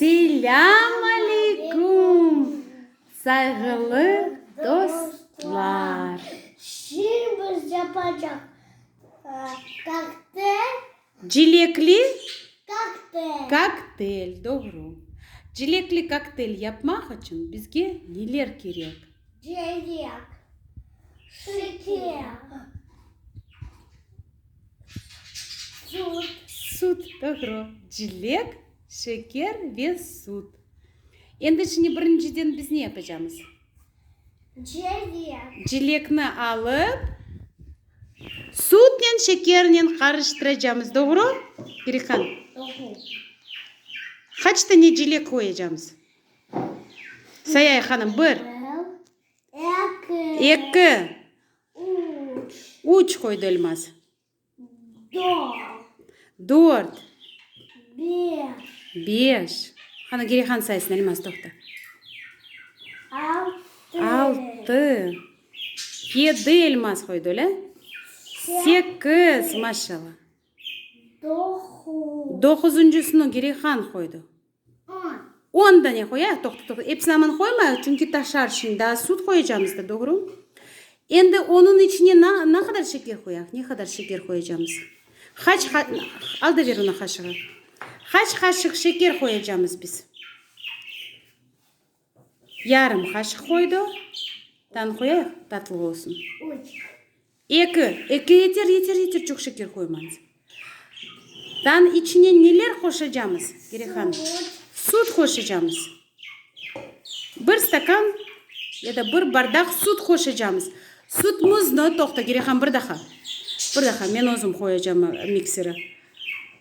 Selâm aleyküm, sayğılı dostlar! Şirin biz yapacaq koktel. Cilekli? Koktel. Koktel, doğru. Cilekli koktel yapmaq içün bizge neler kerek? Celek, şeker, sut. Sut, doğru. Celek, şeker ve sut. Endi şimdi birinciden biz ne yapacağımız? Celek. Celekni alıp, sutnen, şekernen qarıştıracağımız, doğru? Perikan. Doğru. Qaç tane celek qoyacağımız? Say Aya hanım, bir. Eki. Üç, qoydı Elmaz. Dört. Beş. Qani, geri qan saysın, Elmaz, toqta. Altı. Yedi, Elmaz, qoydı, öyle? Sekiz, maşallah. Doquzıncısını geri qan qoydı. On dane qoyayıq, toqta-toqta, epsini aman qoymayıq, çünki taşar şimdi, daa süt qoyacamız da, doğru? Endi onıñ içine na, na qadar şeker qoyaq, ne qadar şeker qoyacamız? Qaç qa, al da ber ona qaşığı. Qaç qaşıq şeker qoyacamız biz? Yarım qaşıq qoydu. Tan qoyayıq, tatlı olsun. Eki, eki yeter, yeter, yeter, çoq şeker qoymañız. Tan içine neler qoşacamız, Gere hanım? Sud qoşacamız. Bir stakan ya da bir bardaq sud qoşacamız. Sudmıznı, toqta, Gere han, bir daha, bir daha, men özüm qoyacam miksere.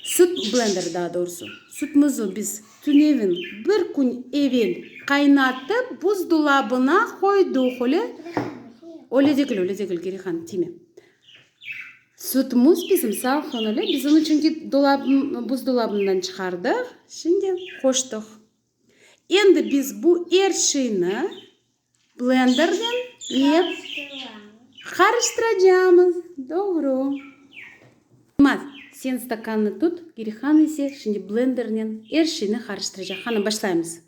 Süt blender, daa doğrusı, sütmüzü biz tünevin bir kün evel qaynatıp buzdulabına qoyduq, öyle? Öyle degil, öyle degil, Gerihan, tiyme. Sütmüz bizim salqın, öyle? Biz onıñ çünki dolab, buzdolabından çıqardıq, şimdi qoştıq. Endi biz bu er şeyni. Blendernen ne qarıştıracağımız? Doğru. Yılmaz, sen stakannı tut, Girihan ise şimdi blendernen er şeyni qarıştıracaq. Qanı, başlaymız.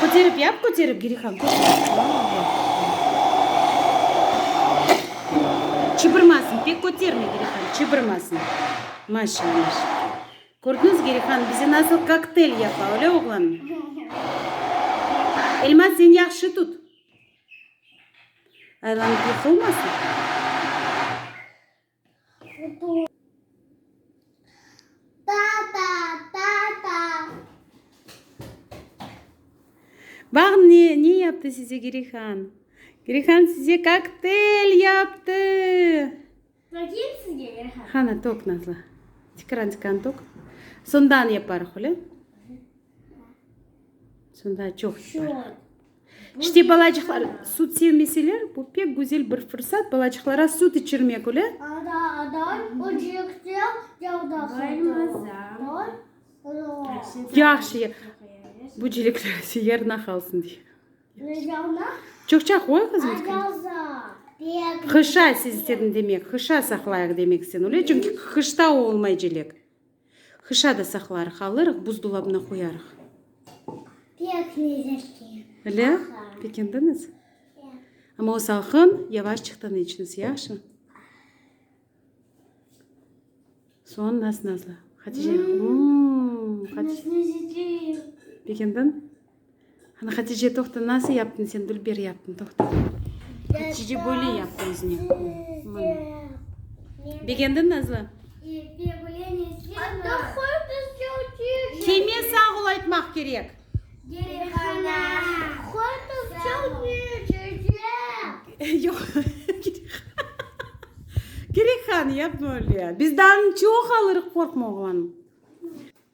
Köterip yap, köterip, Girixan, köterip. Çıbırmasın, pek köterme, Girixan, çıbırmasın. Maşa, maşa. Kördiñiz, Girixan, bize nasıl koktel yapa, öyle, oğlanım? Elmaz, sen yahşı tut. Aylanıp yıqılmasın. Bax ne, ne yaptı size Girihan? Girihan size kokteyl yaptı! Baqayım sizge, Girihan. Qana, toq, Nazlı. Tikran, tikran toq. Sondan yaparıq, öyle? Sonda çoq yaparıq. İşte balacıqlar sut sevmeseler, bu pek güzel bir fırsat, balacıqlara sut içirmek öyle. Yahşı, ya. Bu çilekler ise yarına qalsın. Çoqça qoy qızım. Qışa siz istedin demek, qışa saqlayıq demek istedin öyle, çünki qışta olmay çilek. Hışa da saqlarıq, alırıq, buzdolabına qoyarıq. Pek lezzetli. Öyle? Aha. Pekendiñiz? Ya. Amma o salqın, yavaşçıqtan içiñiz, yahşı? Soğan naz-nazlı. Hatice. Mmm. Hatice. Naz-nazlı. Pekendiñ? Ana, Hatice, toqta, nasıl yaptın sen, dülber yaptın, toqta. Hatice böyle yaptı özüne. Mına. Begendin, Nazlı? Kime sağ ol aytmaq kerek? Yoq. Kerekhan, yapma öyle. Bizden çoq alırıq, qorqma, oğlanım.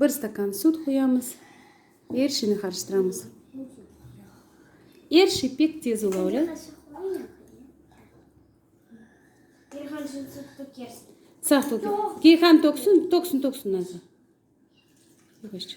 Bir stakan süt quyamız. Er şeyni qarıştıramız. Er şey pek tez olavle. Keyhan töksün, töksün, töksün azı. Yavaşça.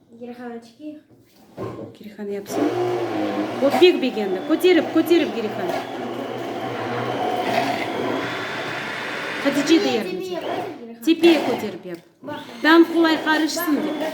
Girihanı çıkayıq. Girihanı yapsın. O pek begendi. Köterip, köterip Girihanı. Hatice de yardım et. Tepeye köterip yap. Tam kolay qarışsın dep.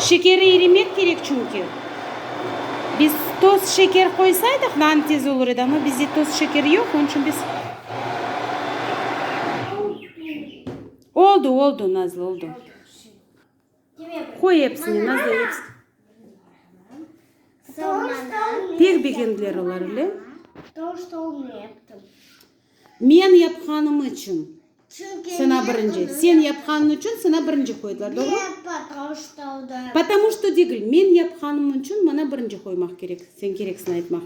Şekeri irimek kerek çünki. Biz toz şeker qoysaydıq nan tez olur edi, amma bizde toz şeker yoq, onıñ içün biz. Oldu, oldu, Nazlı, oldu. Qoy epsine, nazlı epsine. Pek begendiler olar ile. Men yapqanım içün saña birinci, sen yapqanıñ içün saña birinci qoydılar, doğru? Potomu şto degil, men yapqanım içün maña birinci qoymaq kerek, sen kereksiñ aytmaq.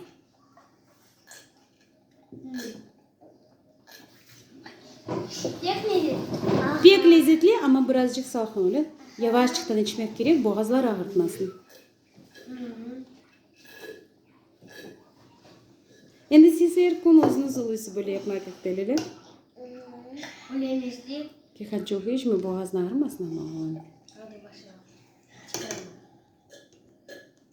Pek lezetli. Pek lezetli, amma birazcıq salqın, öyle? Yavaşçıqtan içmek kerek, boğazlar ağırtmasın. Endi siz er kün özüniz uluysız böyle yapmak ehtel, öyle? Bilemiz de. Diqqat çoq içme, boğazın ağırmasın ama oğlum.